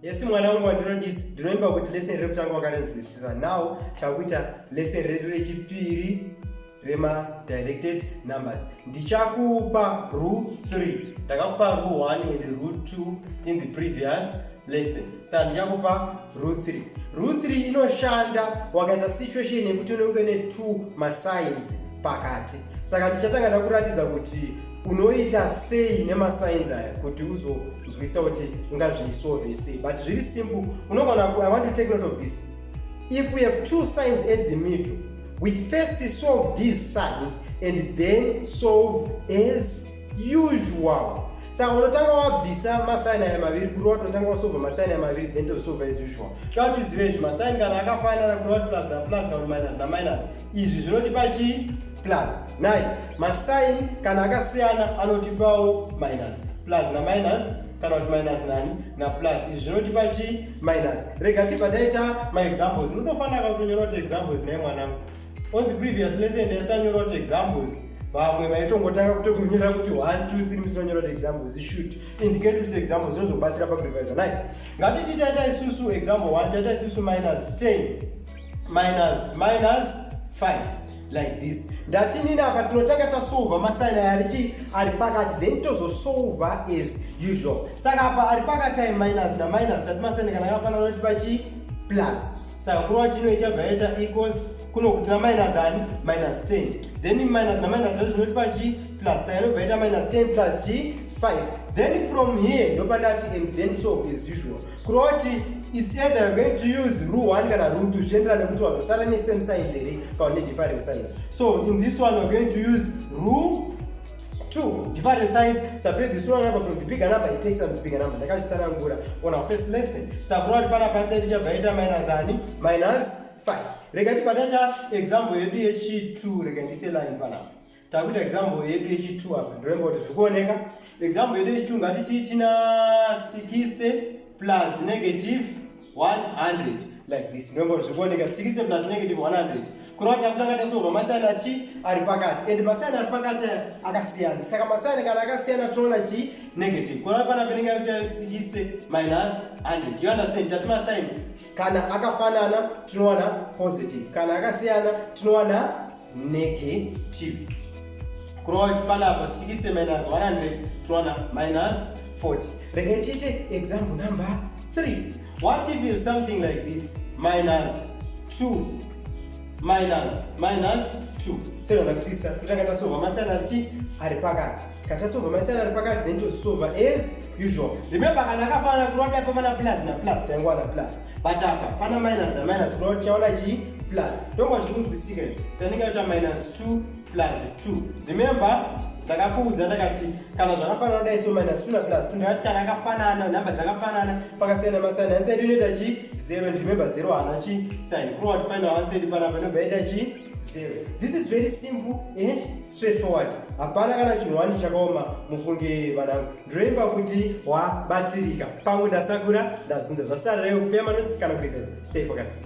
yesi mwana wangu wandinodisi ndinoimba kuti leseni rekutanga wakarinzwisisa now takuita leseni redu rechipiri remadirected numbers ndichakupa rule 3 ndakakupa rule 1 and rule 2 in the previous lesson Saka ndichakupa rule 3. Rule 3 inoshanda wakaita situation yekuti unenge ne two masigns pakati. Saka ndichatanga ndakuratidza kuti unoita sei nemasigns aya kuti uzonzwisa kuti ungazvisolve sei but zviri simple unogona i want to take note of this if we have two signs at the middle we first solve these signs and then solve as usual saka unotanga wabvisa masaini aya maviri kuri watonotanga wasova masaini aya maviri then tosova as usual toda kuti uzive izvi masaini kana akafanana kuri wati plus plus kana minus naminus izvi zvinotipa chii plus nai masaini kana akasiyana anotipawo minus plus naminus kana kuti minus nani naplus izvi zvinotipa chii minus rega tibva taita maexamples unotofanira kakutonyoroti examples naye mwanangu on the previous lesson yasanyorwa kuti examples vamwe vaitongotanga kutongonyora kuti one two three musonyora kuti examples ishut indicate kuti examples inozobatsira pakurevisa nai ngatiti taita isusu example one taita isusu minus ten minus minus five like this ndatinini apa tinotanga tasolva masaini aya arichi ari pakati then tozosolva as usual saka apa ari pakati ayi minus naminus tati masaini kana akafanana kuti pachi plus saka kurova kuti ino ichabva yaita equals kuno kutira minus ani minus 10 then minus naminus zvacho zvinotipa chi plus saka inobva yaita minus 10 plus chi 5 then from here ndopandati and then solve as usual kurova kuti its either you're going to use rule 1 kana rule 2 zvichiendera nekuti wazosara nesame size here kana nedifferent size so in this one we're going to use rule two different sides separate the small number from the bigger number it takes up the bigger number ndakazvitsanangura on our first lesson sakura ari pana panza iri chabva ita minus ani minus 5 rega tibatacha example yedu yechi2 rega ndise line panapa takuita example yedu yechi2 apa ndoremba kuti zviri kuoneka example yedu yechi2 ngatiti tina 60 plus negative 100 like this ndombo zvikuoneka zvichikitse plus negative 100 kureva kuti akutanga tasova masiyana chi ari pakati and masiyana ari pakati akasiyana saka masiyana kana akasiyana toona chi negative kureva pana penenge yakuti yasikise minus 100 you understand tati masiyana kana akafanana tinowana positive kana akasiyana tinowana negative kurova kuti panapa 60 minus 100 towana minus 40 regai tiite example number 3 what if you something like this minus 2 minus minus 2 sevana kutisa kutanga tasova masiyana tichi ari pakati kana tasova masiyana ari pakati then tozisova as usual remember kana akafanana kurwa taipa mana plus na plus taingwana plus but apa pana minus na minus kuona kuti chaona chii plus ndonga zvikunzwisika izvi saka ndingaita minus 2 plus 2 remember ndakakuudza ndakati kana zvakafanana kudai so minus 2 na plus 2 ndakati kana akafanana nhamba dzakafanana pakasiyana masani ansedi inoita chii 0 and remember 0 haana chii sign kurova kuti final ansedi panapa inobva yaita chii 0 this is very simple and straightforward hapana kana chinhu wani chakaoma mufunge vanangu Remember kuti wabatsirika. Pamwe ndasakura ndazunza zvasara reyo kupeya manotsi kana kurevesa. Stay focused.